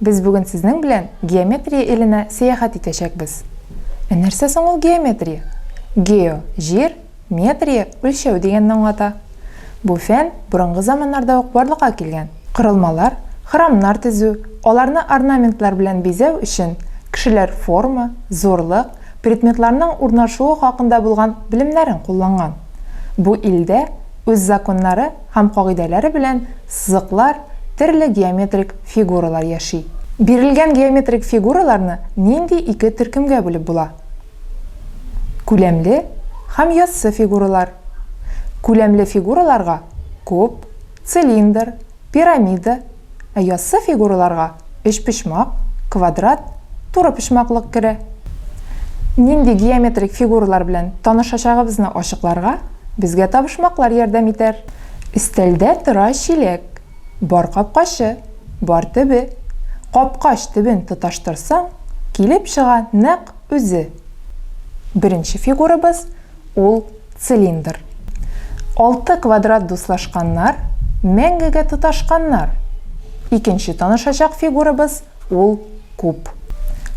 Без бүген сезнең белән геометрия иленә сәяхәт итәчәкбез. Ә нәрсә соң ул геометрия? Гео, җир, метрия, үлчәү дигәнне аңлата. Бу фән борынгы заманнарда ук барлыкка килгән. Корылмалар, храмнар төзү, аларны орнаментлар белән бизәү өчен кешеләр форма, зурлык, предметларның урнашуы хакында булган белемнәрен кулланган. Бу илдә үз законнары, һәм кагыйдәләре белән сызыклар, терле геометрик фигуралар яши. Бирелгән геометрик фигураларны нинди ике төркемгә бүлеп була? Күләмле һәм яссы фигуралар. Күләмле фигураларга куб, цилиндр, пирамида, Ә яссы фигураларга өчпочмак, квадрат, турыпочмаклык керә. Нинди геометрик фигуралар белән танышачагыбызны ачыкларга безгә табышмаклар ярдәм итәр. Өстәлдә тора чиләк. Бар капкачы, бар төбе. Капкач төбен тоташтырсаң, килеп чыга нәкъ үзе. Беренче фигурабыз, Ул, цилиндр. Алты квадрат дуслашканнар, мәңгегә тоташканнар. Икенче танышачак фигурабыз, ул, куб.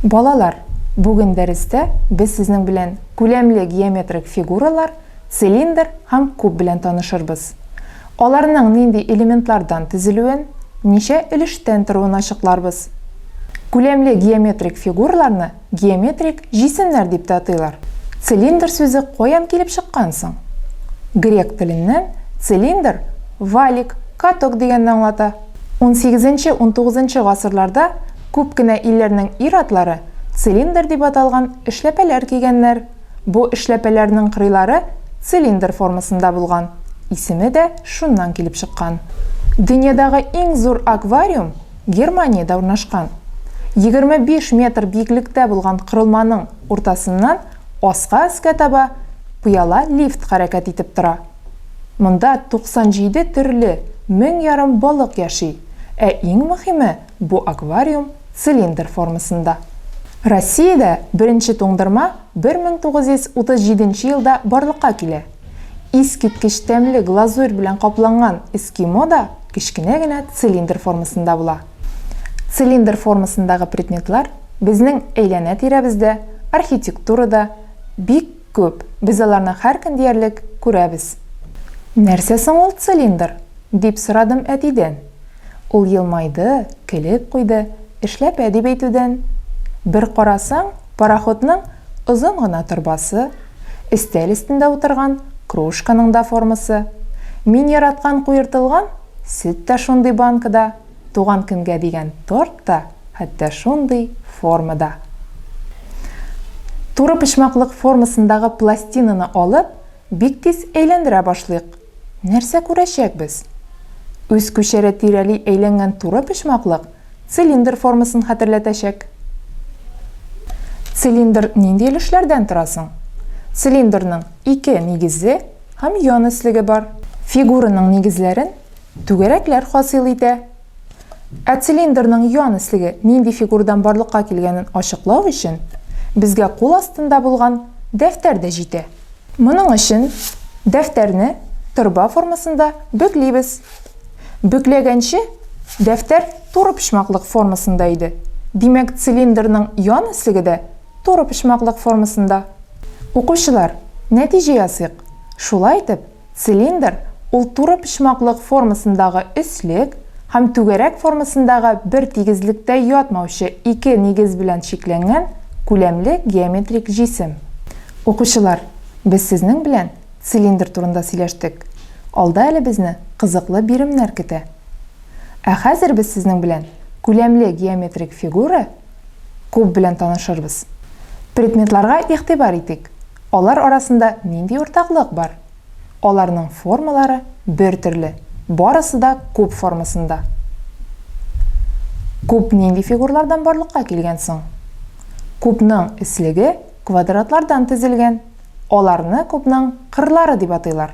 Балалар, бүген дәрестә без сезнең белән күләмле геометрик фигуралар, цилиндр һәм куб белән танышырбыз. Аларның нинди элементлардан төзелүен, ничә өлештән торуын ачыкларбыз. Күләмле геометрик фигураларны Геометрик җисемнәр дип тә атыйлар. Цилиндр сүзе каян килеп чыккан соң? Грек теленнән цилиндр валик, каток дигәнне аңлата. Унсигезенче-унтугызынчы гасырларда күп кенә илләрнең ир-атлары цилиндр дип аталган эшләпәләр кигәннәр. Бу эшләпәләрнең кырыйлары цилиндр формасында булган, исеме дә шуннан килеп чыккан. Дөньядагы иң зур аквариум Германиядә урнашкан. Егерме биш метр биеклектә булган корылманың уртасыннан аска өскә таба пыяла лифт хәрәкәт итеп тора. Монда туксан җиде төрле, мең ярым балык яши, ә иң мөхиме, бу аквариум цилиндр формасында. Россиядә беренче туңдырма бер мең тугыз йөз утыз җиденче елда барлыкка килә. Искиткеч тәмле глазурь белән капланган эскимо да кечкенә генә цилиндр формасында була. Цилиндр формасындагы предметлар безнең әйләнә-тирәбездә, архитектурада бик күп, без аларны һәркөн диярлек күрәбез. Нәрсә соң ул цилиндр? дип сорадым әтидән. Ул елмайды, көлеп куйды, Эшләпә дип әйтүдән. Бер карасаң, пароходның озын гына торбасы, өстәл өстендә утырган кружканың да формасы, мин яраткан куертылган сөт тә шундый банкада, туган көнгә дигән торт та хәтта шундый формада. Туры почмаклык формасындагы пластинаны алып, бик тиз әйләндерә башлыйк. Нәрсә күрәчәкбез? Үз күчәре тирәли әйләнгән туры почмаклык цилиндр формасын хәтерләтәчәк. Цилиндр нинди өлешләрдән тора соң? Цилиндрның ике нигезе һәм ян өслеге бар. Фигураның нигезләрен түгәрәкләр хасил итә. Ә цилиндрның юан эслеге нинди фигурдан барлыкка килгәнен ачыклау өчен безгә кул астында булган дәфтәр дә җитә. Моның өчен дәфтәрне торба формасында бөклибез. Бөкләгәнче дәфтәр турыпочмаклык формасында иде, димәк, цилиндрның юан эслеге дә турыпочмаклык формасында. Укучылар, нәтиҗә ясыйк. Шулай итеп, Цилиндр, ул туры почмаклык формасындагы өслек һәм түгәрәк формасындагы бер тигезлектә ятмаучы ике нигез белән чикләнгән күләмле геометрик җисем. Укучылар, без сезнең белән цилиндр турында сөйләштек. Алда әле безне кызыклы биремнәр көтә. Ә хәзер без сезнең белән күләмле геометрик фигура, куб белән танышырбыз. Предметларга игътибар итик. Алар арасында нинди уртаклык бар? Аларның формалары бертөрле, барысы да куб формасында. Куб нинди фигурлардан барлыкка килгән соң? Кубның эслеге квадратлардан төзелгән, аларны кубның кырлары дип атыйлар.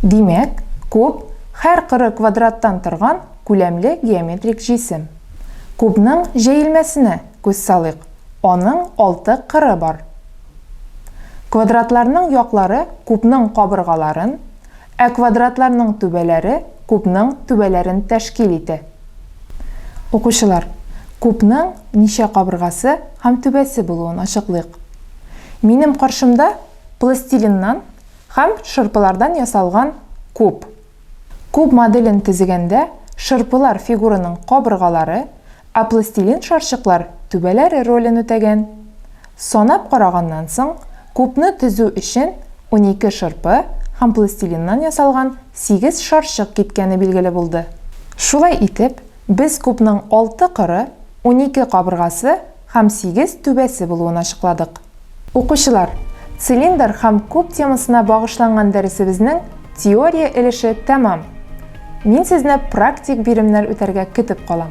Димәк, куб, һәр кыры квадраттан торган күләмле геометрик җисем. Кубның җәелмәсенә күз салыйк. Аның алты кыры бар. Квадрат-ларның яклары кубның кабыргаларын, ә квадрат-ларның түбәләре кубның түбәләрен тәшкил итә. Укучылар, кубның ничә кабыргасы һәм түбәсе булуын ачыклыйк. Минем каршымда пластилиннан һәм шырпылардан ясалган куб. Куб моделен төзегәндә шырпылар фигураның кабыргалары, ә пластилин шарчыклар түбәләре ролен үтәгән. Санап караганнан соң, кубны төзү өчен унике шырпы һәм пластилиннан ясалган сигез шарчык киткәне билгеле булды. Шулай итеп, без кубның алты кыры, унике кабыргасы һәм сигез түбәсе булуын ачыкладык. Укучылар, цилиндр һәм куб темасына багышланган дәресебезнең теория өлеше тәмам. Мин сезне практик биремнәр үтәргә көтеп калам.